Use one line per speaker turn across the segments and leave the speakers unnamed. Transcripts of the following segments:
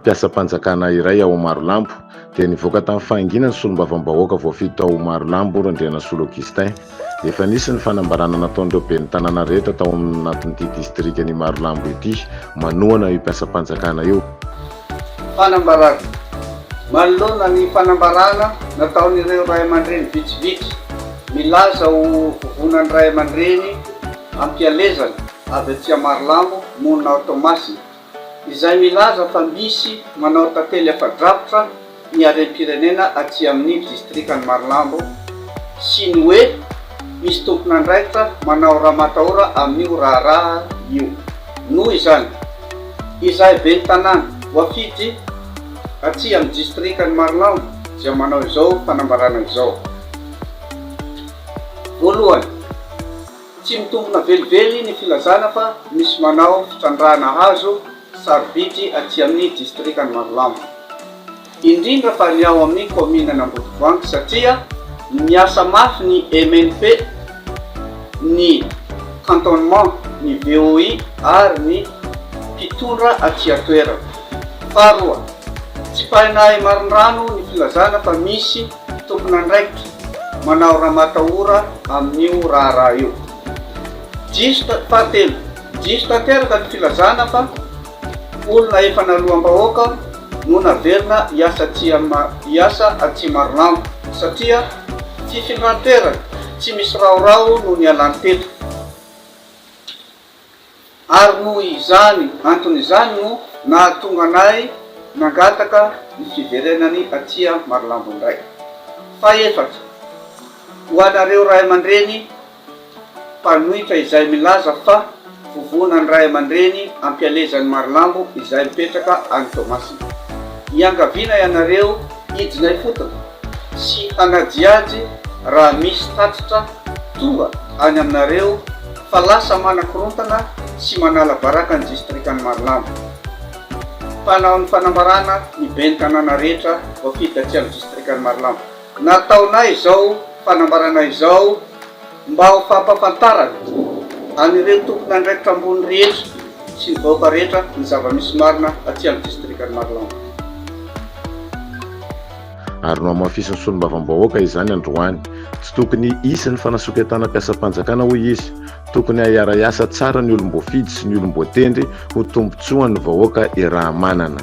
Mpiasam-panjakana iray ao Marolambo dia nivoaka tamin'ny fahanginana ny solombavambahoaka voafidy tao Marolambo, Randrianasolo Augustin. Efa nisy ny fanambarana nataon'ireo ben'ny tanàna rehetra tao amin'ny anatin'ity distrikan'i Marolambo ity manohana io mpiasam-panjakana io.
Fanambarana. Manoloana ny fanambarana nataon'ireo ray aman-dreny vitsivitsy milaza ho vovonan'ny ray aman-dreny am-pialezana avy atsy Marolambo monina ao Toamasina, izay milaza fa misy manao tantely afa-drakotra ny harem-pirenena aty amin'ny distrikan'i Marolambo sy ny hoe misy tompon'andraikitra manao ramatahora amin'io raharaha io. Noho izany, izahay ben'ny tanàna voafidy aty amin'ny distrikan'i Marolambo dia manao izao fanambarana izao. Voalohany. Tsy mitombina velively ny filazana fa misy manao fitrandrahana hazo sarobidy aty amin'ny distrikan'i Marolambo, indrindra fa ny ao amin'ny kaominan'Ambodivoangy satria miasa mafy ny MNP, ny cantonnement, ny VOI ary ny mpitondra aty an-toerana. Faharoa, tsipahin'Ahimarindrano ny filazana fa misy Tompon'andraikitra manao ramatahora amin'io raharaha io. Diso, fahatelo, diso tanteraka ny filazana fa olona efa naloham-bahoaka no naverina hiasa aty hiasa aty Marolambo satria fifindran-toerana tsy misy raorao no nialany teto. ary noho izany antony izany no nahatonga anay nangataka ny fiverenany aty Marolambo indray. Fahefatra, ho anareo ray aman-dreny mpanohitra izay milaza fa vovonan'ny ray aman-dreny ampialezan'i Marolambo izay mipetraka any Toamasina. Iangaviana ianareo hidina ifotony. sy hangadihady raha misy tatitra tonga any aminareo fa lasa manakorontana sy manala baraka ny distrikan'i Marolambo. Mpanao ny fanambarana ny ben'ny tanàna rehetra voafidy taty amin'ny distrikan'i Marolambo. Nataonay izao fanambarana izao. Mba ho fampahafantarana an'ireo tompon'andraikitra ambony rehetra sy ny vahoaka rehetra ny zava-misy marina aty amin'ny distrikan'i Marolambe.
Ary nohamafisin'ny solombavambahoaka izany androany. Tsy tokony hisy ny fanasoketana mpiasam-panjakana hoy izy. Tokony hahiara-hiasa tsara ny olom-boafidy sy ny olom-boatendry ho tombontsoan'ny vahoaka Irahamanana.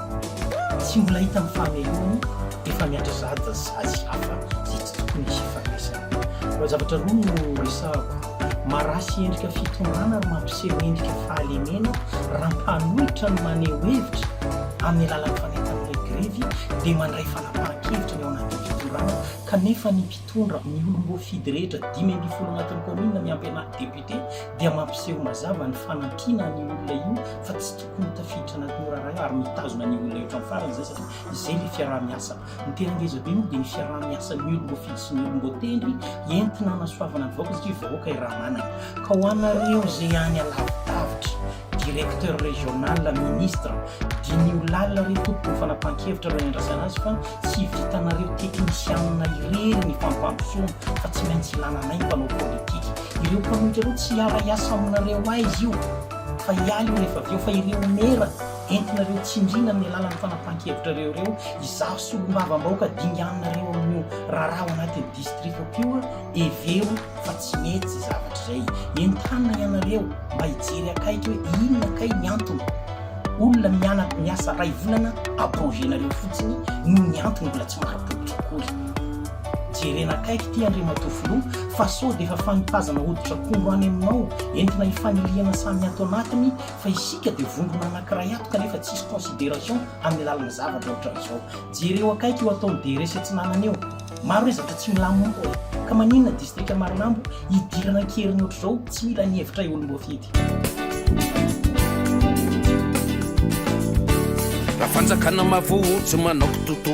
Tsy mbola hita ny fahamelohany efa miandry zaza sazy hafa izay tsy tokony hisy ifandraisana. Fa zavatra roa no resahako, maraha sy endrika fitondrana ary mampiseho endrika fahalemena raha mpanohitra no maneho hevitra amin'ny alalan'ny fanentan'ireny grevy dia mandray fanapahan-kevitra ny ao anatin'ny fitondrana kanefa ny mpitondra, ny olom-boafidy rehetra dimy ambin'ny folo anatin'ny kaominina miampy anà député dia mampiseho mazava ny fanampiana an'io olona io fa tsy no tafiditra anatin'io raharaha io ary mitazona ny olona eo hatramin'ny farany izay satria izay ilay fiaraha-miasa. Ny tena ngeza be moa dia ny fiaraha-miasan'ny olom-boafidy sy ny olom-boatendry entina hanasoavana ny vahoaka satria vahoaka i Ramanana. Ka ho anareo izay any alavidavitra, directeur régional, ministre, diniho lalina re tompoko ny fanapahan-kevitra alohan'ny handrasana azy fa tsy vitanareo teknisianina irery ny fampandrosoana fa tsy maintsy ilana anay mpanao politika. Ireo mpanohitra ireo tsy hiara-hiasa aminareo aiza io? Fa hiahy io rehefa avy eo, fa ireo mera entinareo tsindriana amin'ny alalan'ny fanapahan-kevitrareo ireo, izaho solombavambahoaka dinganinareo amin'io raharaha ao anatin'ny distrikako io, hevero fa tsy mety izay zavatra izay. Entanina ianareo mba hijery akaiky hoe inona kay ny antony. Olona mianatra miasa iray volana à projet-nareo fotsiny no ny antony mbola tsy marim-pototra akory. Jerena akaiky ity Andriamatoa Filoha fa sao dia efa fanipazana hoditr'akondro any aminao entina hifanilihana samy ato anatiny fa isika dia vondrona anakiray ato kanefa tsisy consideration amin'ny alalan'ny zavatra ohatran'izao. Jereo akaiky io ataon'i DRS Atsinanana io. Maro ezatra tsy milamina ka maninona distrika Marinambo hidirana an-keriny ohatr'izao tsy mila ny hevitray olom-boafidy.
Raha fanjakana mavozo manao kitoto.